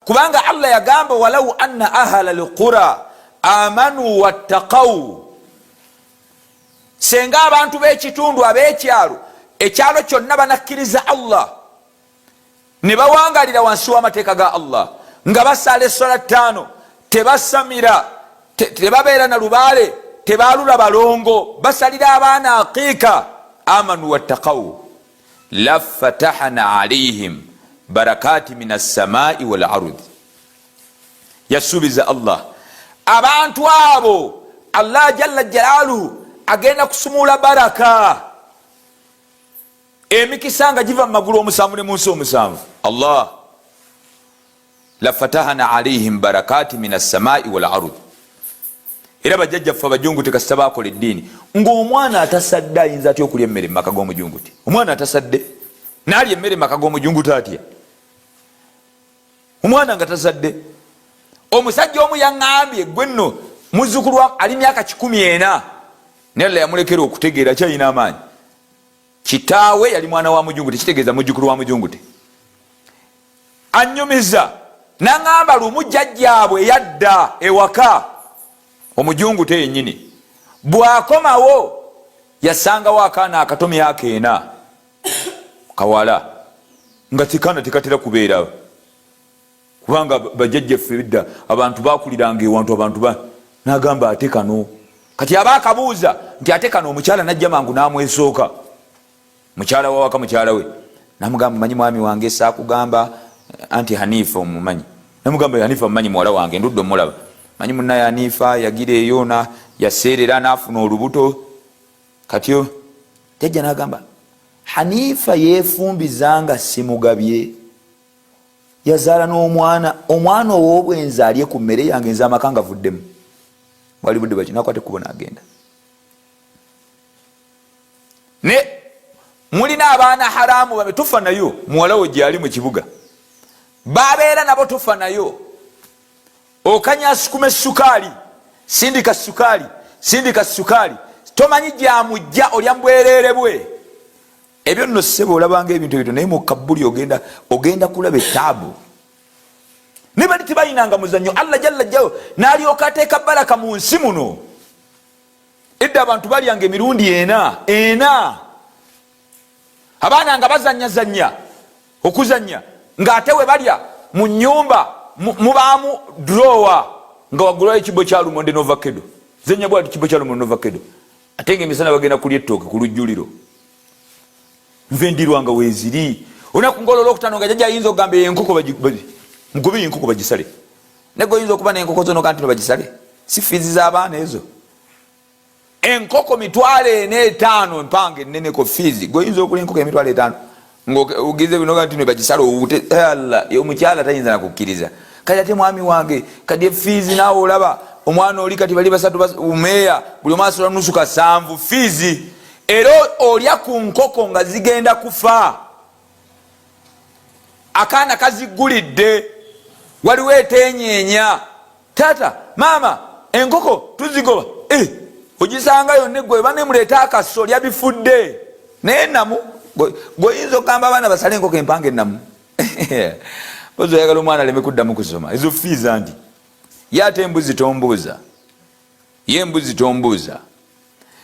kubanga allah yagamba walau anna ahala lqura amanu wattakau senga abantu b'ekitundu ab'ekyalo ekyalo kyonna banakkiriza allah ne bawangalira wansi w'amateeka ga allah nga basaala essola ttaano tebasamira tebabeera na lubaale tebaalula balongo basalira abaana aqiika amanu wattakau lafatahana alaihim barakati min assamai walarudi yasuubiza allah abantu abo allah jalla jalaluhu agenda kusumula baraka emikisa nga giva mu magulu omusanvu ne munsi omusanvu allah lafatahana alaihim barakati min assamai walardi era bajjajjaffe abajunguti kasita bakola eddiini ngaomwana atasadde ayinza atya okulya emmere mumaka gomujunguti omwana atasadde nalya emmere mumaka gomujunguti atya omwana nga tasadde omusajja omu yaŋambye gwe nno muzukulu ali myaka kikumi ena nalla yamulekera okutegeera kyalina amaanyi kitaawe yali mwana wa mujungute kitegeeza mujukulu wa mujungute Annyumiza n'ang'amba lumu jjajjaabwe eyadda ewaka omujungute yennyini bw'akomawo yasangawo akaana akato myaka ena kawala nga kikaana tekatera kubeera kubanga bajjajja ffe bidda abantu bakuliranga ewantu abantu ba n'agamba ate kano kati aba akabuuza nti ate kano omukyala n'ajja mangu n'amwesooka mukyala wawaka mukyala we namugamba manyi mwami wange sakugamba anti hanifa omumanyi namugamba hanifa omumanyi muwala wange ndudde omulaba manyi munaye hanifa yagira eyo na yaseerera nafuna olubuto kati jajja nagamba hanifa yefumbiza nga simugabye yazaala n'omwana omwana ow'obwenzi alye ku mmere yange nze amaka nga vuddemu bwali budde bakinakwate kubo nagenda ne mulina abaana haramu babe tufa nayo muwalawo gyali mu kibuga babeera nabo tufa nayo okanya sukuma essukaali sindika sukaali sindika sukaali tomanyi gyamujja olya mbwerere bwe ebyo nno ssebe olabanga ebintu ebito naye mukabbuli ogenda ogenda kulaba etaabu naye bali tebayinanga muzannyo allah jalla jjawo nalyoka ateeka baraka mu nsi muno edda abantu balyanga emirundi ena ena abaana nga bazanyazanya okuzanya ngaate webalya mu nyumba mubaamu drowa nga wagulayo ekibo kyalumonde novakedo zenya bwati kibo kyalumonde novakedo ate nga emisana bagenda kulya ettooke ku lujjuliro nve ndirwanga weziri olunaku ngaolwolwokutano nga jaja ayinza okugamba enkoko mugobe yenkoko bagisale naye goyinza okuba nenkoko zono kanti nobagisale si fiizi z'abaana ezo enkoko mitwalo ena etaano empanga enneneko fiizi goyinza okula enkoko emitwalo etaano ngaogize binoga nti nebagisala owute eh, omukyala tayinza nakukkiriza kati ate mwami wange kati efiizi naawe olaba omwana oli kati bali basatu umeeya buli omu asola nusu kasanvu fiizi era olya ku nkoko nga zigenda kufa akaana kaziggulidde waliwo etenyeenya taata maama enkoko tuzigoba eh, ogisanga yonna eggwa eba nemuleeta akaso lyabifudde naye namu gweoyinza okugamba abaana basale enkoko empanga enamu ozi oyagala omwana aleme kuddamu kusoma ezo fiiza ndi ye ate embuzi tombuuza ye mbuzi tombuuza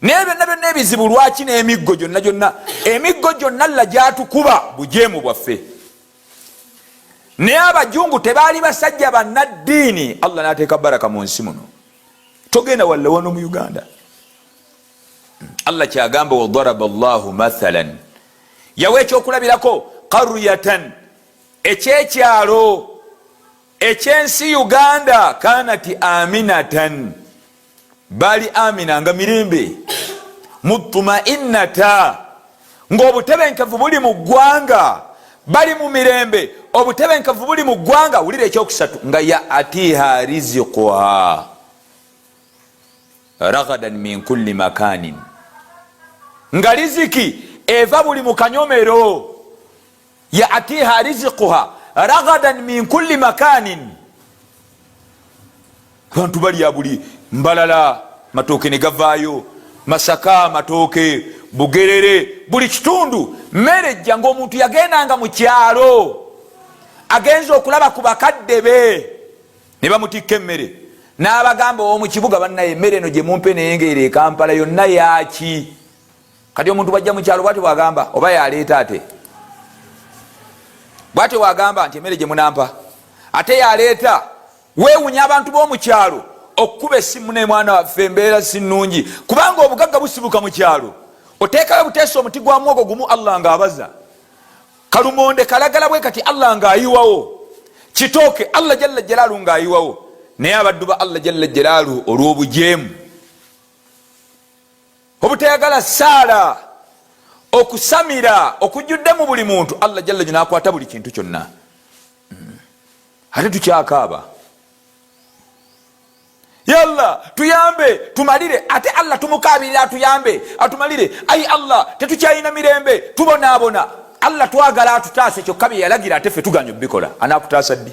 naye byonna byonna ebizibu lwaki n'emiggo gyonna gyonna emiggo gyonna lla gyatukuba bujeemu bwaffe naye abajungu tebaali basajja bannaddiini allah nateeka baraka mu nsi muno togenda walla wano mu uganda allah kyagamba wadaraba llahu mathalan yawa ekyokulabirako qaryatan ekyekyalo ekyensi uganda kanati aminatan baali amina nga mirembe mutumainata ngaobutebenkevu buli mu ggwanga bali mu mirembe obutebenkevu buli mu ggwanga wulira ekyokusatu nga ya atiha riziquha ragadan min kulli makanin nga riziki eva buli mukanyomero yaatiha riziquha ragadan min kulli makanin abantu balya buli mbalala matooke ne gavaayo masaka matooke bugerere buli kitundu mmere ejja ngaomuntu yagendanga mu kyalo agenza okulaba ku bakadde be ne bamutikka emmere n'abagamba owomu kibuga bannaye emmere eno gye mumpe naye ngaero ekampala yonna yaaki kati omuntu bwajja mukyalo bwatyo bwagamba oba yaleeta ate bwatyo bwagamba nti emere gyemunampa ate yaleeta wewunya abantu bomukyalo okukuba esimu nemwana waffe embeera sinungi kubanga obugagga busibuka mukyalo oteekayo buteesa omuti gwa mwogo gumu allah nga abaza kalumonde kalagala bwe kati allah nga ayiwawo kitooke allah jalla jalaalu nga ayiwawo naye abaddu ba allah jalla jalaalu olw'obujeemu Obutayagala ssaala, okusamira okujjudde mu buli muntu, Allah jalla jalaluhu n'akwata buli kintu kyonna. Hmm. Ate tukyakaaba yalla tuyambe tumalire ate allah tumukabirira atuyambe atumalire ayi allah tetukyalina mirembe tubonaabona allah twagala atutaase kyokka byeyalagira ate fe tuganya obikola anakutaasa ddi